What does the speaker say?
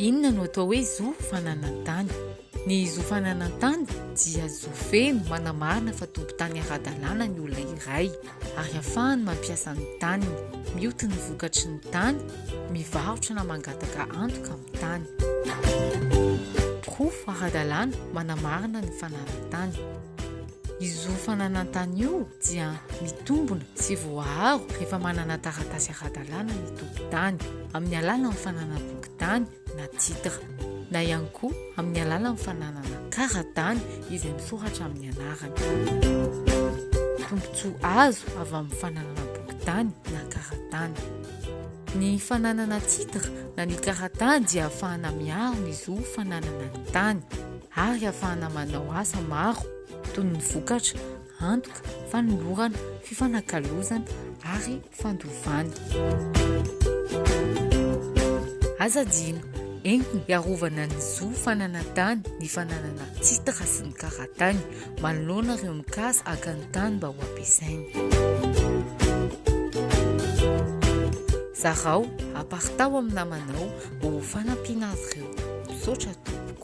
Inona no atao hoe zo fananan-tany? Ny zo fananan-tany dia zo feno manamarina fa tompon-tany ara-dalàna ny olona iray. ary afahany mampiasa ny taniny, mioty ny vokatry ny tany, mivarotra na mangataka antoka amin'ny tany. Porofo ara-dalàna manamarina ny fananan-tany. Izo fananan-tany io dia mitombona sy voaaro rehefa manana taratasy ara-dalàna ny tompon-tany, amin'ny alalan'ny fananam-pokontany na titre, na ihany koa amin'ny alalan'ny fananana kara-dany izay misoratra amin'ny anarany. Tombontsoa azo avy amin'ny fananana bokin-tany na kara-tany. Ny fananana titre na ny kara-tany dia ahafahana miaro ny zo fananana ny tany ary ahafahana manao asa maro toy ny vokatra, antoka, fanolorana, fifanakalozana ary fandovana. Aza adino, entiny hiarovana ny zo fananan-tany, ny fananana titre sy ny kara-tany, manoloana ireo mikasa haka ny tany mba ho ampiasainy. Zarao, aparitaho amin'ny namanao ho fanampiana azy ireo. Misaotra tompoko.